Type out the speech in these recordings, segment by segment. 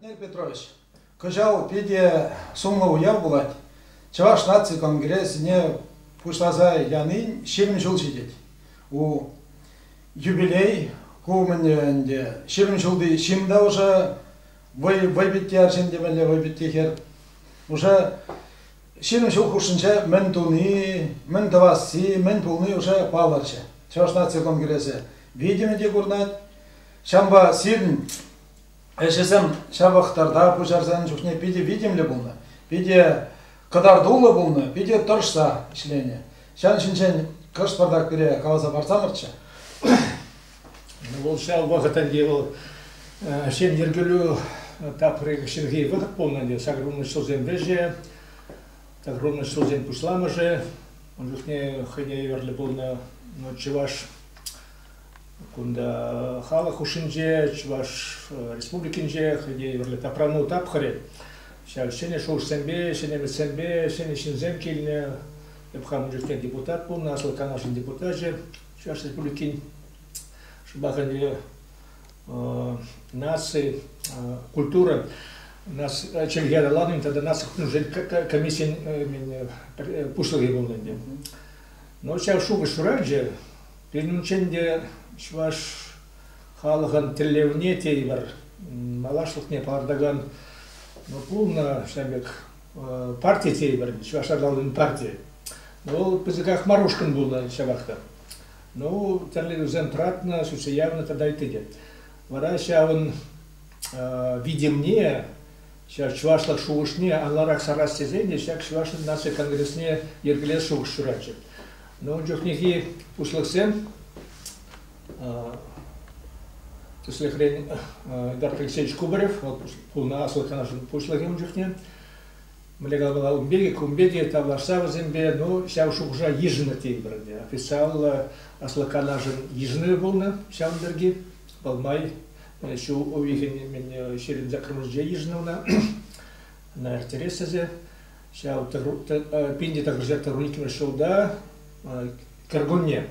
Владимир Петрович, кӑҫал питӗ сумлӑ уяв пулать. Чӑваш наци конгресне пуҫласа янин ҫирӗм ҫул ҫитет. Ку юбилей, ку умӗнне ӗнтӗ ҫирӗм ҫулти ҫын та ӑшӑ вӑй, вӑйпитти арҫын темелле вӑйпитти хӗр. Уже ҫирӗм ҫул хушшинче мӗн туни, мӗн тӑвасси, мӗн пулни уже палӑрчӗ. Чӑваш наци конгресӗ витӗмӗ те курӑнать. Ҫавӑнпа сирӗн Ӗҫӗсем ҫавӑхтарта пуҫарсан чухне питӗ витӗмлӗ пулнӑ, питӗ кӑтартуллӑ пулнӑ, питӗ тӑрӑшса ӗҫленӗ. Ҫан ҫинчен кӑшт пӑртак пире каласа парсамӑрччӗ. Вӑл ҫав вӑхӑтӗнче вӑл ҫын йӗркелӳ тапхӑрӗ ҫурхи вӑхӑт пулнӑ ӗнтӗ. Саккунлӑ ҫулсен вӗҫӗ, саккунлӑ ҫулсен пуҫламӑшӗ. Ун чухне хӑйне евӗрлӗ пулнӑ чӑваш Кунта халӑх хушшинче, Чӑваш Республикинче хӑй те юрлӗ тапрану тапхӑрӗ. Ҫав ҫӗнӗ шухӑшсемпе, ҫӗнӗ ӗмӗтсемпе ҫӗнӗ ҫынсем килнӗ. Эп хамӑн ҫуртне депутат пулнӑ, Аслӑ Канашӑн депутачӗ, Чӑваш Республикин шӑпахӗнче наци, культура, чӗлхе аталанӑвӗн тата наци хутшӑнусен комиссийӗн пуҫлӑхӗ пулнӑ ӗнтӗ. Ну, ҫав шухӑш шыравҫӑ Пирӗншӗн те чӑваш халӑхӑн тӗллевне тейӗпӗр, малашлӑхне палӑртакан пулнӑ ҫак пек парти тейӗпӗр, Чӑваш аталанӑвӗн партийӗ. Вӑл пысӑках мар ушкӑн пулнӑ ҫапах та. Ну, тӗрлетӳсем тӑратнӑ, сӳтсе явнӑ тата ытти те. Вара ҫавӑн витӗмне, ҫав чӑвашлӑх шухӑшне анларах сарас тесен те ҫак Чӑваш наци конгресне йӗркелес шухӑш ҫуратчӗ. Ну, ун чухнехи пуҫлӑхсем тӗслӗхрен Эдарт Алексеевич Кубарев вӑл пулнӑ аслӑ канашӑн пуҫлӑхӗ ун чухне мӗнле калаҫма ун пирки кун пирки тавлашса вӗсемпе ну ҫав шухӑша йышӑннӑ тейпӗр ӗнтӗ официаллӑ аслӑ канашӑн йышӑнӑвӗ пулнӑ ҫавӑн пирки вӑл май ҫул уйӑхӗн ҫирӗн закрывӑшӗнче йышӑннӑ ӑна на РТРС ӗҫе Ҫав пин те тӑрӑшать тӑру иккӗмӗш ҫулта кӗркунне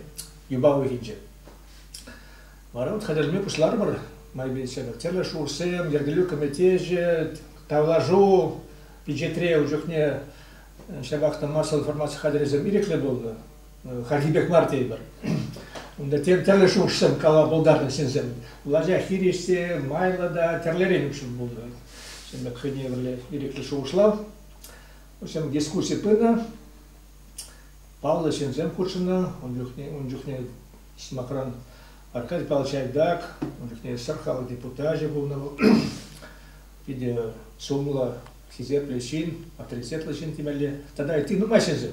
юпа уйӑхӗнче. Вара вот хатӗрме пуҫларӑмӑр майпен ҫӗпӗр. Тӗрлӗ шурсем, йӗркелӳ кӗметечӗ, тавлашу пичетре ун чухне ҫапах та массӑллӑ формаци хатӗрӗсем ирӗклӗ пулнӑ. Хальхи пек мар тейӗпӗр. Унта тӗрлӗ шухӑшсем кала пултартӑм ҫынсем. Влаҫа хирӗҫсе майлӑ та тӗрлӗрен укҫа пулнӑ. Ҫыннак хӑйне пӗрле ирӗклӗ шухӑшлав. В общем, дискусси пынӑ. Паллӑ ҫынсем хутшӑннӑ. Ун чухне, ун чухне сӑмахран Аркадий Павлович Айдак, ун чухне Сӑр халӑх депутачӗ пулнӑ вӑл. Питӗ сумлӑ, хисеплӗ ҫын, авторитетлӑ ҫын темелле. Тата ытти нумай ҫынсем.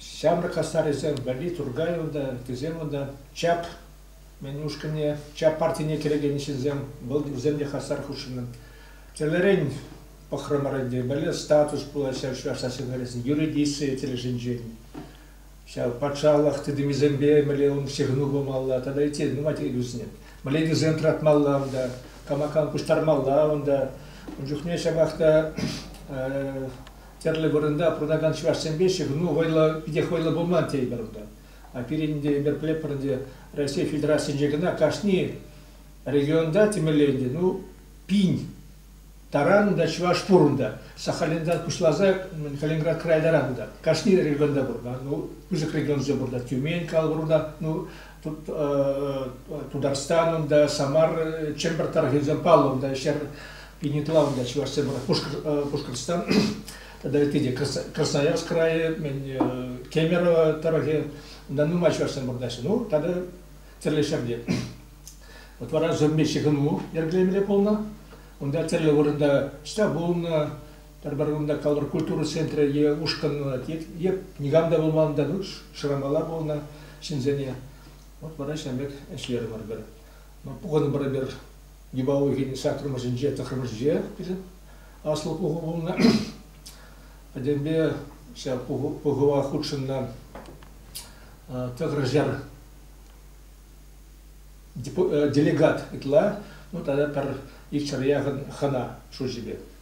Ҫамрӑк хастарӗсем валли Туркай унта, ыттисем унта. Чап мӗн ушкӑнне, Чап партине кӗрекен ҫынсем, вӑл вӗсем те хастар хутшӑннӑ. Тӗлӗрен пӑхрӑмӑр ӗнтӗ, мӗнле статус пулаҫҫӗ чӑваш националисчӗсен юридици тӗлӗшӗнчен, ҫав патшалӑх тытӑмӗсемпе мӗнле ун ҫыхӑну пымалла тата ытти нумай-тӗкӗнӳсене. Мӗнле тӗсем тӑратмалла унта, кама-кам пуҫтармалла унта. Ун чухне ҫапах та тӗрлӗ вырӑнта пурӑнакан чӑвашсемпе ҫыхӑну вӑйлӑ, питех вӑйлӑ пулман тейӗпӗр унта. А пирӗн ӗнтӗ эпир пӗлетпӗр ӗнтӗ Раҫҫей Федерацийӗнче кӑна кашни регионта темелле ӗнтӗ, ну, пин таран та чӑваш пур унта. Сахалинтан пуҫласа Калининград края таран унта. Кашни регионта пур. Ну, пысӑк регионсенче пур та. Тюмень кал пур унта. Ну, Тутарстан унта, Самар, Чӗмпӗр тӑрӑхӗсем паллӑ унта ҫӗр пинитла унта чӑвашсем Пушкӑртстан тата ытти те Красноярск крайӗ, Кемерово тӑрӑхӗ унта нумай чӑвашсем вырнаҫнӑ. Ну тата тӗрлӗ ҫӗрте. Вот вара Зурми ҫыхӑну йӗркелемелле пулнӑ. Унта тӗрлӗ вырӑнта штаб пулнӑ, Пӗр-пӗр кунта калӑр культура центрӗ е ушкӑнлать, е никам та пулман та, шырамалла пулнӑ ҫынсене. Вот вара ҫавӑн пек ӗҫлерӗмӗр пӗр. Пухӑнӑмӑр эпир Юпа уйӑхӗн саккӑрмӗшӗнче, тӑххӑрмӗшӗнче аслӑ пуху пулнӑ. Пӗтӗмпе ҫав пухӑва хутшӑннӑ тӑхӑршер делегат ытла, ну тата пӗр икҫӗр яхӑн хӑна шучӗпе.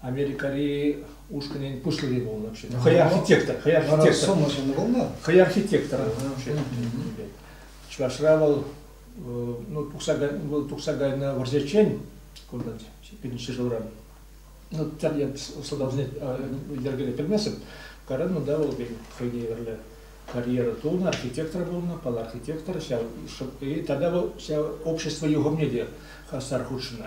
Америкӑри ушкӑнӗн пуҫлӑхӗ пулнӑ вообще. Хӑй архитектор, хӑй архитектор. Сомма ҫыннӑ пулнӑ. Хӑй архитектор вообще. Чӑвашра вӑл ну тухса вӑл тухса кайнӑ вӑрҫӑччен кунта пирӗн ҫӗршывран ну я сӑлтавсене йӗркеле пӗлмесӗм каран унта вӑл хӑйне евӗрлӗ карьера тунӑ архитектор пулнӑ пал архитектор ҫав и тата вӑл ҫав общество юхӑмне те хастар хутшӑннӑ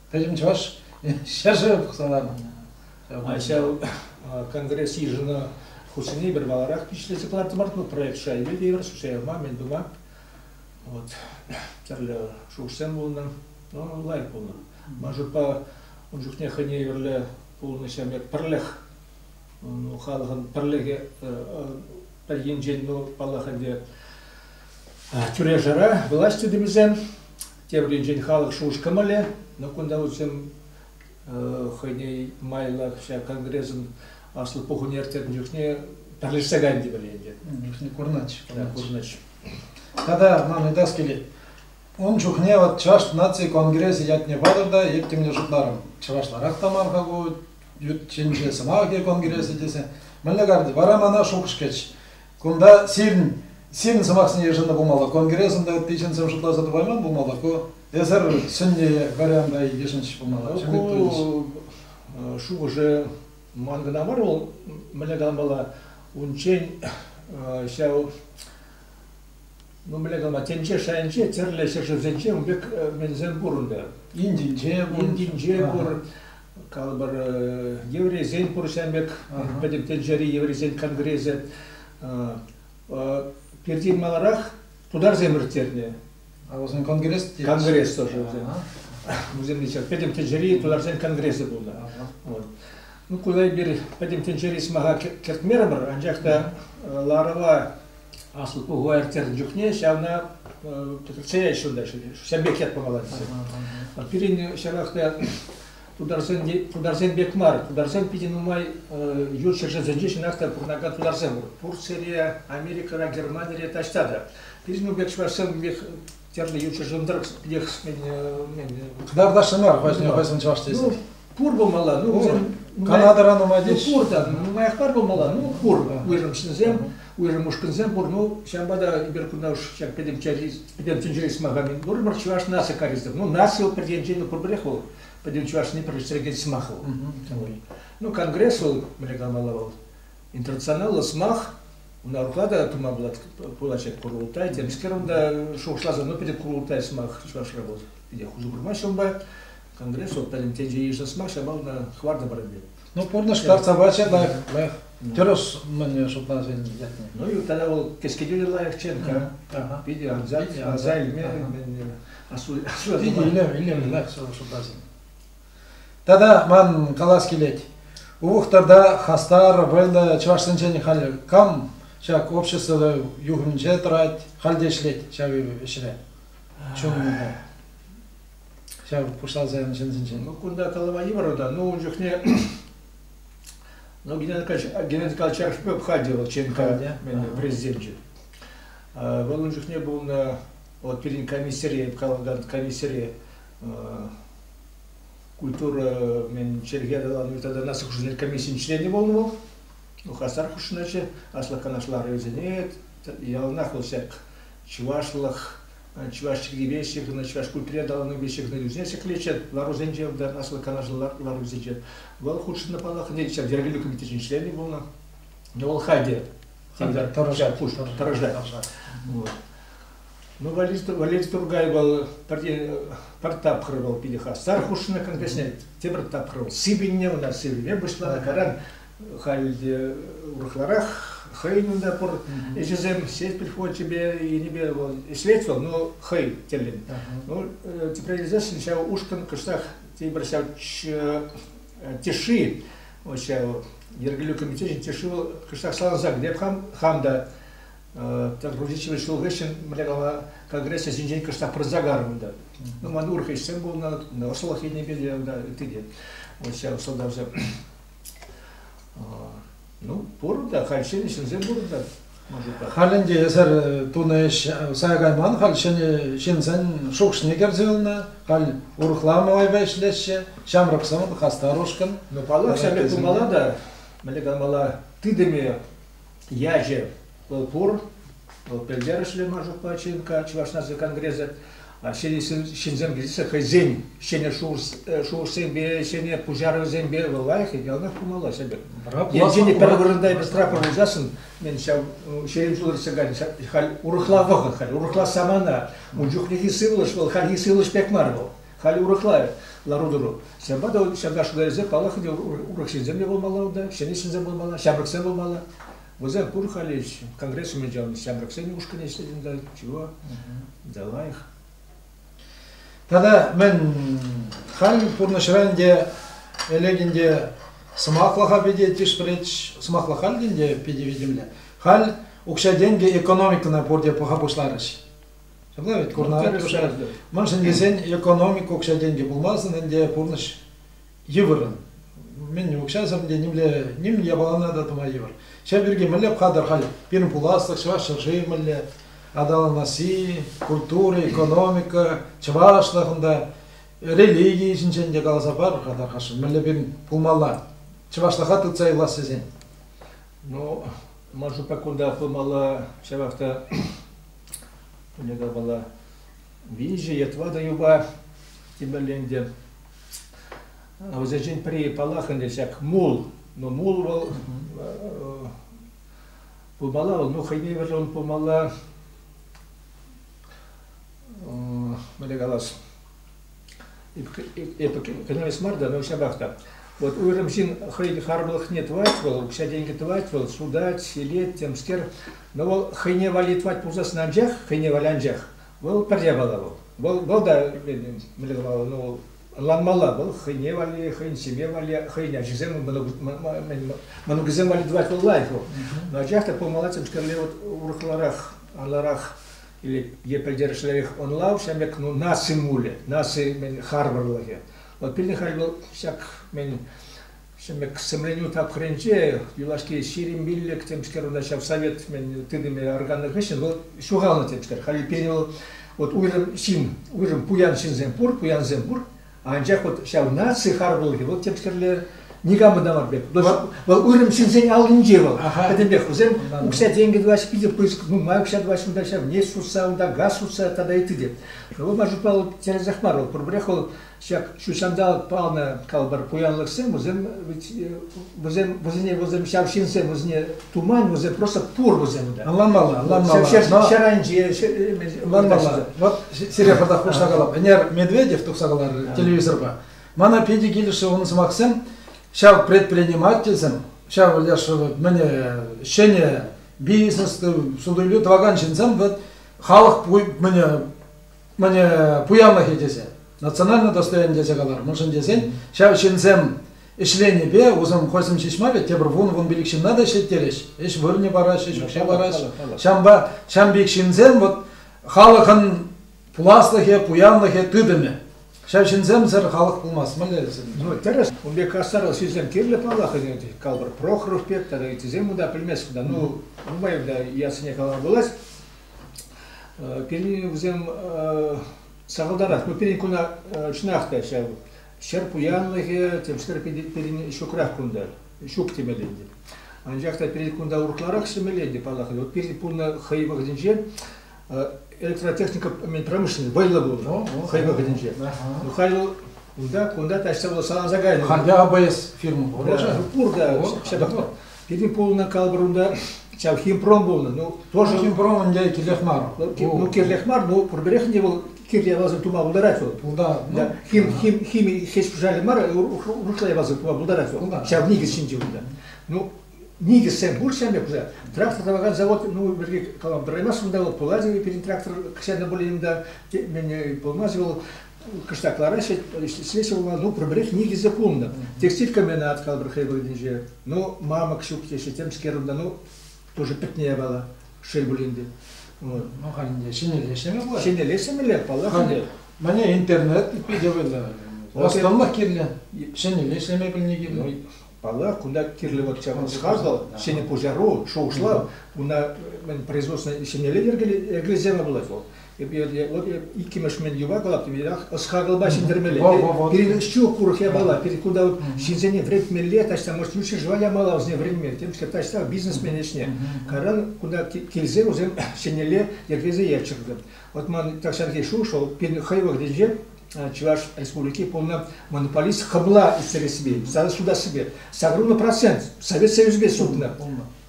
Пӗтӗм чӑваш ҫӗршывӗ пухса ларнӑ. Ҫав конгресс йышӑну хушшине пӗр маларах пиҫлесе кӑлартрӑмӑр ку проект шайне те евӗр шуҫаяма мӗн тума вот тӗрлӗ шухӑшсем пулнӑ лайӑх пулнӑ ман шутпа ун чухне хӑйне евӗрлӗ пулнӑҫем пӗрлӗх ну, халӑхӑн пӗрлӗхӗ пӗр енчен ну паллах ӗнтӗ тӳре-шара власть тытӑмӗсем Тепринчен халӑх шухӑш-кӑмӑлӗ. Но кунта вӗсем хӑйне майлах ҫак конгрессӑн аслӑ пухӑвне ирттернӗ чухне пӗрлешсе кайнӑ темелле ӗнтӗ. Чухне курнать. Курнать. Тата ман ыйтас килет. Ун чухне вот Чӑваш наци конгресӗ ятне патӑр та эп темле шутларӑм. Чӑвашларах та мар-ха ку ют ҫинче сӑмахӗ конгресӗ тесе. Мӗнле карти? Вара мана шухӑш кӗч. Кунта сирӗн, сирӗн сӑмахсене йышӑннӑ пулмалла. Конгресӑн та ытти ҫынсем шутласа тӑвайман пулмалла. Ку эсир сӗннӗ варианта йышӑнчӗ пулмалла. Ку шухӑшӗ ман кӑна мар, вӑл мӗнле каламалла унччен ҫав ну мӗнле калама тӗнче шайӗнче тӗрлӗ ҫӗршывсенче ун пек менсем пур ӗнтӗ. Индинче пур. Индинче пур. Калӑпӑр, еврейсен пурнӑҫа пек пӗтӗм тӗнчери еврейсен конгресӗ пиртен маларах тутарсем ирттернӗ. А вӗсен конгресс конгресс тоже вӗсен. Вӗсем пӗтӗм тӗнчери тутарсен конгресӗ пулнӑ. Ну, куда эпир пӗтӗм тӗнчери сӑмаха кӗртмерӗмӗр, анчах та ларӑва Аслӑ пухӑва ирттернӗ чухне ҫавна кӗтӗртсе ҫунта ҫӗрпех ят памалла тесе. Пирӗн ҫавах та тутарсен, тутарсен пек мар, тутарсем питӗ нумай ют ҫӗршывсенче чӑнах та пурӑнакан тутарсем пур. Турцире, Америкӑра, Германире таҫта та. Пирӗн пек чӑвашсем пек тӗрлӗ юрҫӑшӑн тӑрӑх Дардашӗ мар вӗсен чӑваш тесен. Ну, пур пулмалла, ну, Канадӑра нумай теҫ. Ну, пур та, нумаях мар пулмалла, ну, пур. Уйрӑмшынсем, уйрӑм ушкӑнсем пур. Ну, ҫавӑнпа та эпир кунта уж ҫак пӗтӗм тӗнчери сӑмахами пурӑмӑр, чӑваш наци каризов. Ну, наци вӑл пӗр енчен ну, пурпӗрех вӑл пӗтӗм чӑвашни пӗрлештерекен сӑмах вӑл. Ну, конгресс вӑл, мӗне калмалла вӑл, Интернационаллӑ сӑмах, унаруха та тума пулать курултай. Темскер унта шухӑшласа, ну питӗ курултай сӑмах чӑвашра вӑл. Питӗ хушу курмаҫҫӗ унпа. Конгресс вот пӗрин тенче йышнӑ сӑмах ҫапа ӑна хӑвартӑ парӑнни. Ну пурнӑҫ карта пачӗ лайӑх, лайӑх. Тӗрӗс мӗн шутласан ятне. Ну юрттана вӑл кӗскетӳ те лайӑхчен, питӗ анса илме, асу илме, илем лайӑх шутласан. Тата ман калас килет, Увӑхтарта хастар, вӑйлӑ чӑвашсенчен халь кам ҫак общество юхӑмӗнче тӑрать, халь те ӗҫлет ҫав ӗҫре чунлӑ ҫав пуҫласа янӑ ҫынсенчен. Ну, кунта калама йывӑр та. Ну, ун чухне ну, Геннадий Геннадий Николаевич Архипов хади вӑл ЧНК президенчӗ. Вӑл ун чухне пулнӑ, вот пирӗн комиссире, комиссире культура мен чӗлхе аталану наци хушшинче комиссийӗн членӗ пулнӑ вӑл ну хастар хутшӑнатчӗ аслӑ канашлар ревизионер яланах вӑл ҫак чӑвашлӑх чӑваш чӗлхипе ҫыхӑннӑ чӑваш культури аталанӑвӗпе ҫыхӑннӑ юрсене ҫӗклетчӗ ларусенче аслӑ канашлар ларусенче вӑл хутшӑннӑ паллах ӗнтӗ ҫав йӗркелӳ комитечӗн членӗ пулнӑ вӑл хальте тӑрӑшать тӑрӑшать Валерий Тургайба пӗр тапхӑр вӑл питӗ хастар хушнӑ кӗнекесене тепӗр тапхӑр вӑл сивӗннӗ ӑна сивӗме пуҫланӑ каран халь те урӑхларах хӑйӗн унта пур ӗҫӗсем сетпель флочӗпе енӗпе вӑл ӗҫлет вӑл ну хӑй тӗллӗн ну тепре илсессӗн ҫав ушкӑн кӑштах тепӗр ҫав тиши ҫав йӗркелӳ комитечӗн тиши вӑл кӑштах саланса кӗтет хам та Рудичевич ҫул хыҫҫӑн мӗнле кала конгрессе ҫинчен кӑштах пырса карӑм та. Ну, ман урӑх ӗҫсем пулнӑ, ӑслӑх енӗпе те унта ытти те. Вот ҫав сӑлтавсем. Ну, пур та, халь ҫӗнӗ ҫынсем пур та. Халь ӗнтӗ эсир тунӑ ӗҫ сая кайман, халь ҫӗнӗ ҫынсен шухӑшне кӗрсе юлнӑ, халь урӑхла малайпа ӗҫлеҫҫӗ, ҫамрӑк сӑн, хастар ушкӑн. Ну, паллах, ҫак пек пулмалла та, мӗнле каламалла, тытӑмӗ ячӗ вӑл пур. Вӑл пӗлтерӗшлӗ Маржукпа ЧНК Чӑваш наци конгресӗ ҫынсем килсе хӑйсен ҫӗнӗ шухӑшсемпе, ҫӗнӗ пуҫарӑвӗсемпе вӑл лайӑх яланах пулмалла ҫӗпӗр. Енчен те пӗр вырӑнта эпӗ штраф пулсассӑн мен ҫав ҫейӗн ҫулӑрсса кайнӑ халь урӑхла вӑхӑт, халь урӑхла самана. Ун чухнехи сывлӑш вӑл хальхи сывлӑш пек мар вӑл. Халь урӑхла лару-тӑру. Ҫавӑнпа та ҫакна шута паллах ӗнтӗ, урӑх ҫынсем те пулмалла унта, ҫӗнӗ ҫынсем пулмалла, ҫамрӑксем пулмалла. Вӗсем пур халь конгресс умӗнче анӑ ҫамрӑксен ушкӑнӗ ӗҫлет та чего, да лайӑх. Тата мӗн, халь пурнӑҫра ӗнтӗ элек ӗнтӗ сӑмахлӑха питӗ тишпӗрет, сӑмахлӑх халь те ӗнтӗ питӗ витӗмлӗ. Халь укҫа-тенкӗ экономикӑна пурте пӑха пуҫларӗҫ. Ҫапла вӗт, курнӑ мӑншӑн тесен экономика укҫа-тенкӗ пулмасӑн ӗнтӗ пурнӑҫ йывӑррӑн. Мӗн укҫасӑр те нимле ним япалана та тума йывӑр. Ҫав пирки мӗнле пхатӑр халь пирӗн пуласлӑх, чӑваш ҫӗршывӗ мӗнле аталанасси, культура, экономика, чӑвашлӑхӑн та, религийӗ ҫинчен те каласа пар-ха, тархасшӑн, мӗнле пирӗн пулмалла, чӑвашлӑха тытса юлас тесен. Ну, ман шутпа кунта пулмалла ҫавах та Кунӗ капала виҫӗ е тӑватӑ юпа тимӗрленте. Вӗсенчен пӗри паллах ӗнтӗ ҫак мул. Но мул вӑл пулмалла, ну хӑйне вӗрен пулмалла. Мӗне калас? эпӗ кӑнтӑрас мар та, но ҫапах та. Вот уйрӑм ҫын хӑй харпӑрлӑхне тӑвать вӑл, укҫа-тенкӗ тӑвать вӑл, судать, ҫилет, темскер. Но вӑл хӑйне валли тӑвать пулсассӑн анчах, хӑйне валли анчах, вӑл пӗр япала вӑл. Вӑл, вӑл та, мӗнле калаҫҫӗ, но вӑл ӑнланмалла, вӑл хӑйне валли, хӑйӗн ҫемье валли, хӑйӗн ачисем, мӑнукӗсем валли тӑвать вӑл лайӑх вӑл. Но анчах та пулмалла темскерле вот урӑхларах, анларах е пӗлтерӗшлӗрех ӑнлав ҫав пек ну, наци мулӗ, наци мӗн, харпӑрлӑхӗ. Вот пирӗн халь вӑл ҫак мӗн ҫӗмӗк сӗмленӳ тапхӑрӗнче юлашки ҫирӗм пиллӗк темскер унта ҫав совет мӗн тытӑмӗ арканнӑ хыҫҫӑн вӑл ҫухалнӑ темскер. Халь пирӗн вӑл вот уйрӑм ҫын, уйрӑм пуян ҫынсем пур, пуянсем пур, Анчах вот ҫав наци харпӑрлӑхӗ вӑл темскерле никамӑн та мар пек. Вӑл уйрӑм ҫынсен аллинче вӑл. Пӗтӗмпех вӗсем укҫа-тенкӗ тӑваҫҫӗ, питӗ пысӑк нумай укҫа тӑваҫҫӗ, унта ҫав нефть сутса, унта газ сутса тата ытти те. Вӑл маршрутпа вӑл тӗрӗсех мар, вӑл пурпӗрех вӑл ҫак ҫу ҫанталӑк палнӑ калпӑр пуянлӑхсем, вӗсем вӗсем вӗсене вӗсем ҫав ҫынсем вӗсене Туман вӗсем просто пур вӗсем та. Ӑнланмалла, ӑнланмалла. Ҫӗр, ҫӗр, ҫӗр айӗнче, ӑнланмалла. Вот Серега пата хушса калап. Ӗнер Медведев тухса каларӗ телевизорпа. Мана питӗ килӗшрӗ унӑн сӑмахсем. Ҫав предпринимательсем, ҫав леш мӗне ҫӗнӗ бизнес суту-илӳ тӑвакан ҫынсем вот халӑх мӗне Мане пуянлӑхӗ тесе, национальный достоин тесе калар. Мӑншӑн тесен ҫав ҫынсем ӗҫленипе усӑм хойсем ҫеҫ мар вӗт, тепӗр вун-вун пилӗк ҫынна та ӗҫлеттерӗҫ. Ӗҫ вырӑнӗ параҫҫӗ, ӗҫ укҫи параҫҫӗ. Ҫавӑнпа ҫам пек ҫынсем вот халӑхӑн пуласлӑхӗ, пуянлӑхӗ, тытӑмӗ. Ҫав ҫынсемсӗр халӑх пулмасть, мӗнле сӗннӗ? Ну, тӗрӗс. Ун пек хастарлӑх ҫынсем кирлӗ паллах ӗнтӗ. Калӑпӑр, Прохоров пек тата ыттисем унта пӗлмест кунта. Ну, нумай унта ятсене калама пулать. Пирӗн вӗсем сахалтарах. Ну, пирӗн куна чӑнах та ҫав ҫӗр пуянлӑхӗ тӗпсӗр пирӗн ҫукрах кунта. Ҫук темелле ӗнтӗ. Анчах та пирӗн кунта урӑхларах ҫӗмелле ӗнтӗ паллах. Вот пирӗн пулнӑ хӑй вӑхӑтӗнче электротехника промышленность вӑйлӑ пулнӑ хӑй вӑхӑтӗнче. Ну, халь вӑл унта кунта таҫта вӑл саланса кайнӑ. Халь япа эс фирма пур. Пур та ҫапах та. Пирӗн пулнӑ калӑпӑр унта ҫав химпром пулнӑ. Ну, тоже... Ну, химпром ӗнтӗ кирлех мар. Ну, ну кирлех мар, ну, пурпӗрех те вӑл кирли явасын тума пултарать вӑл. Пултарать. Ну, хим, хим, хими хӗҫ-пушарӗ мар, урӑхла явасын тума пултарать вӑл. Ҫав никӗс ҫинче унта. Ну, никӗссем пур ҫав пек уже. Трактор тӑвакан завод, ну, пирки калам, тӑраймас унта вӑл, пулать пирӗн трактор кӑҫан та пулин та, мен пулмасть вӑл, кӑштах лараҫҫӗ, ӗҫлеҫҫӗ вӑл, ну, пӗр-пӗрех никӗсӗ пулнӑ. Текстиль комбина откалӑпӑр хӑй вырӑнӗнче. Ну, мамӑк ҫук теҫҫӗ, темскер унта, ну, тоже пӗтнӗ япала, шел пулин те. Вот. Ну, халӗ ҫӗнӗлле пулать. Ҫӗнӗлле ҫӗнӗлле, паллах. Халӗ мане интернет питне вырнаҫнӑ. Ӑслӑлӑх кирлӗ, ҫӗнӗлле ӗҫлеме пӗлни кирлӗ. Паллах, кунта кирлӗ вот ҫавӑн ӑс-хакӑл, ҫӗнӗ пуҫару, шухӑшлав, уна мӗн производственнӑй ҫемьеле йӗркелесе пулать вӑл. Вот иккӗмӗш мӗн юпа калап теперех ӑс-хакӑлпа ҫӗнтермелле. Пирӗн ҫу курӑк япала, пирӗн кунта ҫынсене вӗретмелле, таҫта может ҫӳҫе жива япала вӗсене вӗретмелле, темскер таҫта бизнесмен ӗҫне. Каран кунта килсе вӗсем ҫӗнелле йӗркелесе ячӑр. Вот мар так Сергей шел, что хӑй вӑхӑтӗнче Чӑваш Республики полный монополист хӑбла ӳстерессипе, судасипе сакӑруллӑ процент Совет Союзӗпе сутнӑ.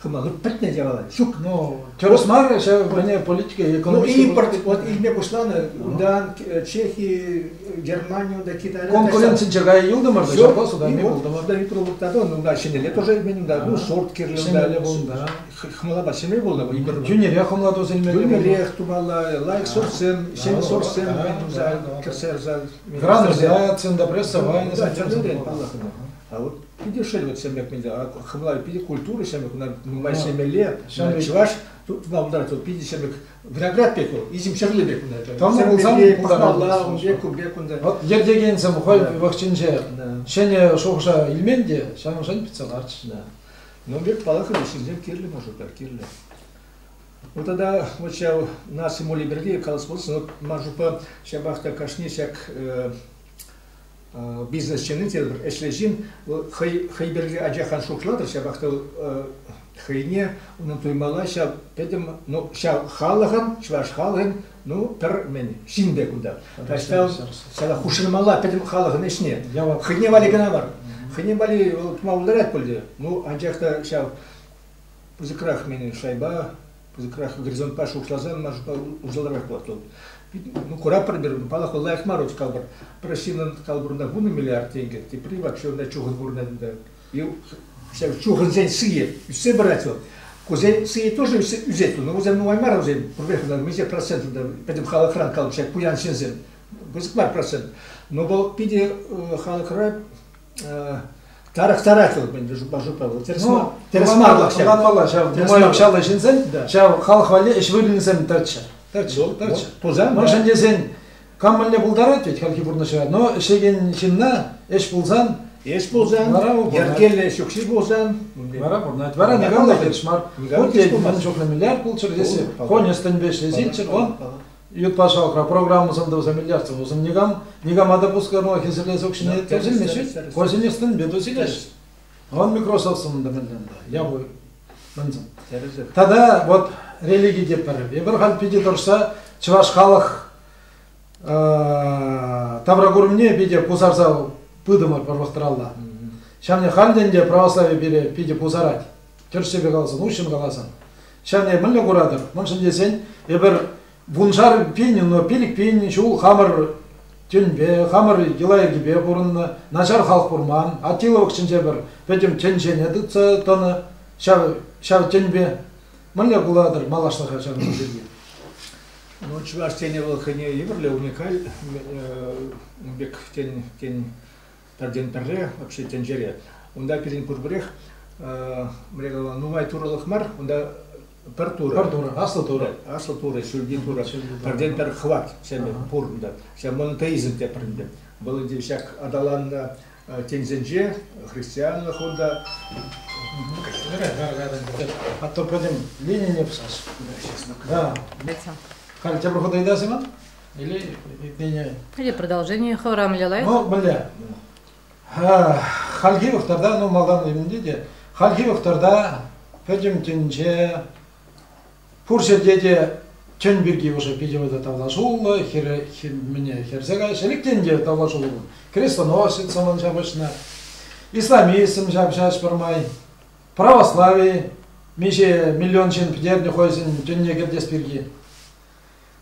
Хӑма вот пӗтнӗ явалать. Ҫук. Ну, тӗрӗс мар ҫав, вӗне политика экономика. Ну, импорт вот илме пуҫланӑ, унтан Чехи, Германию да Китая. Конкуренцинче кая юлтӑмӑр та, ҫапла суда илме пултӑмӑр. Суда и продукта да, ну, ҫӗнӗлле тоже илмен, да, ну, сорт кирлӗ, да, Хӑмлапа ҫӗме пулнӑ вӑл ӳкерме. Йӳнӗрех хӑмлатус илме. Йӳнӗрех тумалла, лайк сорсем, ҫем сорсем туса кӗрсе ярса. Грануляцин та прессовайнӑсем. Тӗрлӗрен паллахнӑ. А вот питӗ шел вот ҫемек менде. Хӑмла питӗ культура ҫемек, кунта нумай ҫемелле. Чӑваш тутна унта питӗ ҫемек виноград пек вӑл, изим ҫӗрле пек кунта. Тӑнӑ пулсан пӑхмалла, ун пек, ун пек кунта. Вот ертекенсем хӑй вӑхӑтӗнче ҫӗнӗ шухӑша илмен те, ҫавӑншӑн питсе ларчӗҫ. Ну, пек палӑртнӑ ҫынсем кирлӗ мӑшӑрпа, кирлӗ. Вот тогда вот ҫав наши моли берди колхоз, вот мӑшӑрпа ҫапах та кашни ҫак бизнесчены те бір ӗҫлеҫин хӑй хӑй берди ачахан шутлатӑр ҫапах та хӑйне унӑн туймала ҫав пӗтӗм ну ҫав халӑхӑн чӑваш халӑхӗн Ну, пӗр мӗн, ҫын пек унта. Таҫта ҫава хушӑнмалла пӗтӗм халӑхӑн ӗҫне. Хӑйне валли кӑна мар. Хӑйне валли вӑл тума пултарать пуль те. Ну, анчах та ҫав пысӑкрах менен шайба, пысӑкрах горизонтпа шухӑшласан маншпа усалрах пулать вӑл. Ну, куратпӑр пир, палӑхлӑ лайӑх мар ут калпӑр. Пӗр ҫыннӑн калпӑрунта вунӑ миллиард тенкӗ, тепри вообще унта чухӑн курӑнать унта. чухӑнсен сыйӗ ӳссе пырать вӑл. Кусен сыйӗ тоже ӳсет. Но вӗсем нумай мар вӗсем. Пурпӗрех миҫе процент унта пӗтӗм халӑхран калчӗ пуян ҫынсем. Пысӑк мар процент. Но вӑл питӗ халӑхра тарӑхтарать вӑл мӗн жупа вӑл тӗрӗс мар тӗрӗс мар ӑнланмалла ҫав нумай укҫаллӑ ҫынсен ҫав халӑх валли ӗҫ вырӑнӗсем тӑрччӗ тӑрччӗ тӑрччӗ пулсан мӑшӑн тесен Кам мӗнле пултарать тет хальхи пурнӑҫра, но ӗҫлекен ҫынна ӗҫ пулсан Ӗҫ пулсан, вара вӑл пурӑнать. йӗркеллӗ ҫукҫи пулсан, вара пурӑнать, вара никам та хирӗҫ мар. Вот ей, ман чухлӗ миллиард пулччӑр тесе конюстенпе ӗҫлесеччӗр, он ют патшалӑхра программӑсем тӑвса миллиардсем тупсан никам, никама та пускарма хӗсӗрлес укҫине тӗлсӗлмеҫҫӗ, конюстенпе тусилӗҫ. Он Microsoftсӑн та мӗнле унта, япӑ мӗнсӗн. Тата вот религи те пӗр. Эпир халь питӗ тӑрса чӑваш халӑх тавракурӑмне питӗ пусарса пытӑмӑр пӗр вӑхӑтралла. Ҫавне халь те православи пире питӗ пусарать. Тӗршшӗпе каласан, уҫҫӑн каласан. Ҫавне мӗнле куратӑр? Мӑншӑн тесен эпир Вуншар пин, но пилӗк пин ҫул хамӑр тӗнпе, хамӑр йӑла-йӗркепе пурӑннӑ, начар халӑх курман. Аттила вӑхӑтӗнче пӗр пӗтӗм тӗнчене тытса тӑнӑ ҫав, ҫав тӗнпе. Мӗнле пулатӑр малашлӑха ҫакӑн пирки? Ну, чӑваш тӗнӗ вӑл хӑйне евӗрлӗ уникаль ун пек тен, тен Пӗртен пӗрре вообще тӗнчере. Унта пирӗн пурпӗрех мӗне калама нумай турӑлӑх мар, унта пӗр турӑ. Пӗр турӑ, аслӑ турӑ. Аслӑ турӑ, ҫӳлти турӑ. Пӗртен пӗр хӑват ҫемӗ пур унта. Ҫав монотеизм тепӗр ӗнтӗ. Вӑл ӗнтӗ ҫак аталаннӑ тӗнсенче христианлӑх унта. А то пойдем Ленине псас. Да. Халь тепӗр хут ыйтасың? Или продолжение хӑвӑра мӗле лайӑх? Ну, мӗнле? Хальхи вӑхтарта, ну, малтан ывенте те, хальхи вӑхтарта пӗтӗм тӗнче, пур ҫӗрте те тӗн пирки уже питӗ вӑйта тавлашуллӑ, хӗре, мӗне, хӗрсе каҫ, ӗлӗктен те тавлашуллӑ. Крестоносец ман ҫапӑҫнӑ, исламизм ҫапҫаҫ пӗрмай, православи, миҫе миллион ҫын пӗтернӗ хӑйсен тӗнне кӗртес пирки.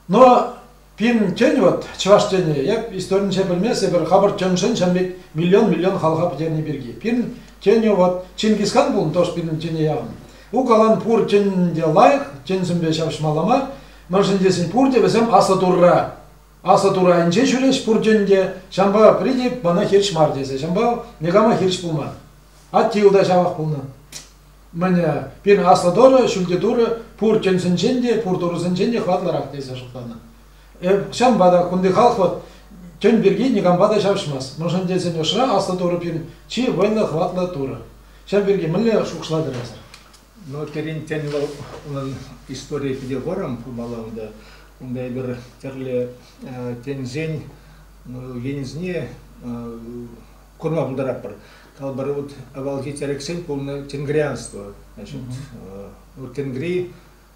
Но пирӗн тен вот, чӑваш тени, эп историнче пӗлмест, эпир хапӑр тӗншӗн чӗнмет миллион-миллион халӑха пӗтерни пирки. Пирӗн тенӗ вот Чингисхан пулнӑ тоже пирӗн тене явӑн. Укалан пур тен те лайӑх, тенсемпе ҫапӑҫмалла мар, мӗншӗн тесен пурте вӗсем аслӑ турра, аслӑ тура айӗнче ҫӳреҫ пур тен те, ҫампа прийти мана хирӗҫ мар тесе, ҫампа никама хирӗҫ пулман. Атти та ҫавах пулнӑ. Мӗне, пир аслӑ тӑрӑ, ҫӳлти турӑ пур тӗнсенчен те, пур турӑсенчен те хӑватлӑрах тесе шутланӑ. Ҫавӑнпа та кунти халӑх тӗн пирки никампа та ҫапӑҫмасть. Мӑншӑн тесен ӑшра аслӑ турӑ пин чи вӑйлӑ хӑватлӑ турӑ. Ҫав пирки мӗнле шухӑшлатӑр эсӗр? Ну, пирӗн тӗн вӑл, унӑн историйӗ питӗ вӑрӑм пулмалла унта. Унта эпир тӗрлӗ тӗнсен ну, енӗсене курламтаратпӑр. Калӑпӑр, вот авалхи тӗрӗксем пулнӑ тенгрианство. Значит, вот тенгри,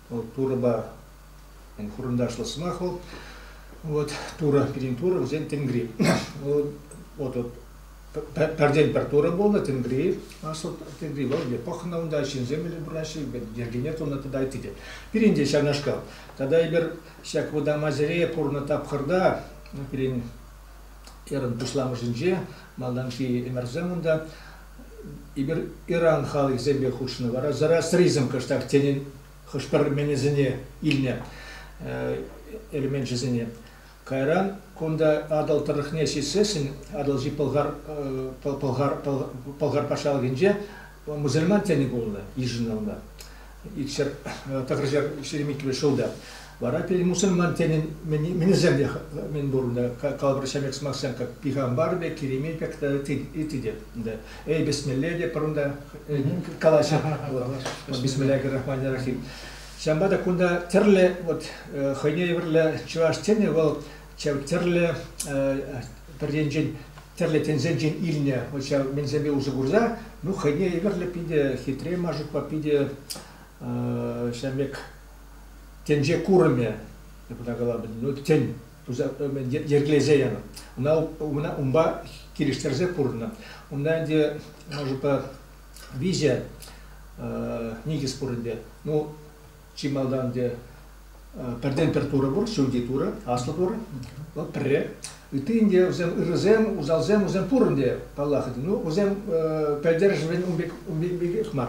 вот турӑпа хурӑндашлӑ сӑмах вӑл. Вот тура, пирин тура, вӗсен тенгри. Вот вот пәрден пӗр тура булнӑ тенгри, асыл тенгри вӑл где пӑхнӑ унта ҫынсем иле бураҫҫӗ, йӗркене тунӑ тата ытти те. Пиринте ҫавнашкал. Тата эпир ҫак вӑтам Азире пурнӑ тапхӑрта пирин Ыран пуҫламӑшӗнче малтанхи ӗмӗрсем унта эпир Иран халӑхӗсемпе хутшӑннӑ вара Зарастризм кӑштах тенӗ хӑш-пӗр менесене илнӗ элеменчӗсене. Кайран кунта Атӑл тӑрӑхне ҫитсессӗн Атӑлҫи Пӑлхар Пӑлхар Пӑлхар патшалӑхӗнче Мусульман тени пулнӑ йышӑннӑ. Икшер, тӑхӑрҫар ҫирӗм ҫулта. Вара пирӗн мусульман тенин минӗсем те мӗн пурнӑ. Калӑпӑр ҫамек сӑмахсем как пихамбар пек, Керемей пек ити те. Эй, бисмилле те пурнта калаҫа. Бисмиллахи рахмани рахим. Ҫавӑнпа та кунта тӗрлӗ вот хӑйне евӗрлӗ чӑваш тени вӑл тӗрлӗ пӗр енчен тӗрлӗ тӗнсенчен илнӗ вот ҫав мӗнсемпе усӑ курса, ну хӑйне евӗрлӗ питӗ хитре машукпа питӗ ҫав пек тӗнче курӑмӗ кӑна калабӑн, ну тӗн туса йӗркелесе янӑ. Ӑна унпа унпа килӗштерсе пурӑннӑ. Унта ӗнтӗ машупа виҫе никӗс пур ӗнтӗ. Ну Чи малтан те пӗртен-пӗр турӑ пур, ҫӳлти турӑ, аслӑ турӑ. Вӑл пӗрре. Ытти те вӗсем ырӑсем, усалсем, вӗсем пурӑн те, паллах. Ну, вӗсем пӗлтерӗшӗн ун пек мар.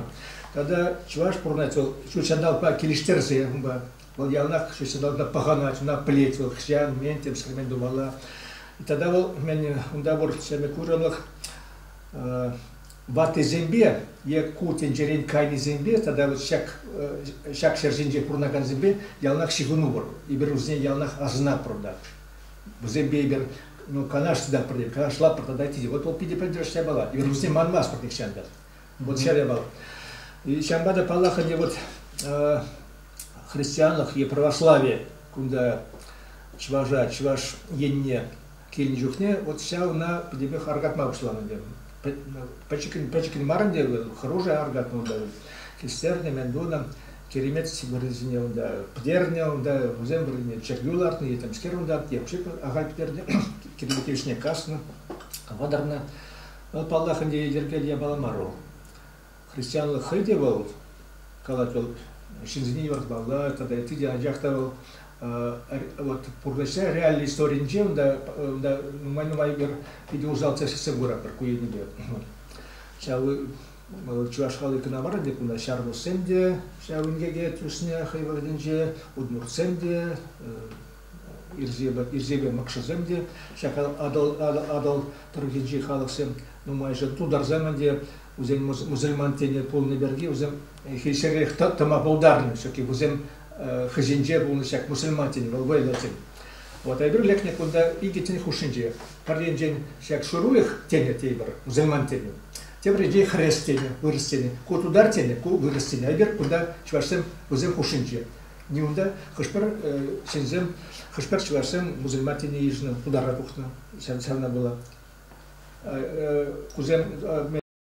Тата чӑваш пурӑнать вӑл ҫут ҫанталӑкпа килӗштерсе унпа. Вӑл яланах ҫут ҫанталӑкта пӑхӑнать, ӑна пӗлет вӑл хӑҫан, мӗн темсӗр мӗн тумалла. Тата вӑл, мен унта пур ҫемье курӑмлӑх ваттисемпе е ку тӗнчерен кайнисемпе тата вот ҫак, ҫак ҫӗр ҫинче пурӑнакансемпе яланах ҫыхӑнупӑр. Эпир вӗсене яланах асӑнатпӑр та. Вӗсемпе эпир ну, канашлатпӑр, канашлатпӑр тата тете, вот вӑл питӗ пӗлтерӗш япала. Эпир вӗсене манмастпӑр нихҫан та. Вот ҫӗр япала. И ҫавӑнпа та, паллах, ӗнтӗ вот христианлӑх е православи кунта чӑваша, чӑваш енне Килнӗ чухне вот ҫав ӑна пӗтӗпех аркатма пуҫланӑ тем. Пӗчӗккӗн-пӗчӗккӗн марӑнчӗ вӑл, хӑрушӑ аркатнӑ унта. Кистернӗ, мӗн тунӑ. Киремет вырӑсене унта пӗтернӗ унта, вӗсем вырӑнне чӗркӳ лартнӑ, етемскер унта, вообще ахаль пӗтернӗ, киремет йышне каснӑ, вӑтӑрнӑ. Вӑл, паллах, ӗнтӗ йӗркел япала мар вӑл. христианлӑх хӑй те вӑл, калать вӑл, ҫынсене юратмалла тата ытти те, анчах та вӑл вот пурнӑҫра реаллӗ историнче унта, унта нумай-нумай пӗр питӗ усал тӗслӗхсем куратпӑр ку енӗпе. Ҫав чӑваш халӑхӗ кӑна мар ӗнтӗ, кунта ҫармуссем те ҫав инкеке тӳснӗ хӑй вӑхӑтӗнче, удмуртсем те, ирсепе, ирсепе мӑкшӑсем те, ҫак Атӑл, Атӑл, Атӑл тӑрӑхӗнчи халӑхсем нумайӑшӗ тутарсем ӗнтӗ Вӗсем мусульман тени пулнӑ пирки вӗсем хӗҫерех тӑма пултарнӑ, чөнки вӗсем хӑҫенче пулнӑ ҫак мусульман тени, вӑл вӑйлӑ тен. Вот, а эпир лекнӗ кунта икӗ тен хушшинче. Пӗр енчен ҫак шурулӗх тенӗ тейпӗр, мусульман тени. Тепӗр енчен хрес тени, вырӑс тени. Ку тутар тени, ку вырӑс тени. А эпир кунта чӑвашсем вӗсен хушшинче. Не унта хӑш-пӗр ҫынсем, хӑш-пӗр чӑвашсем мусульман тени йышӑннӑ, пултара тухнӑ. Ҫавна пула. Кусем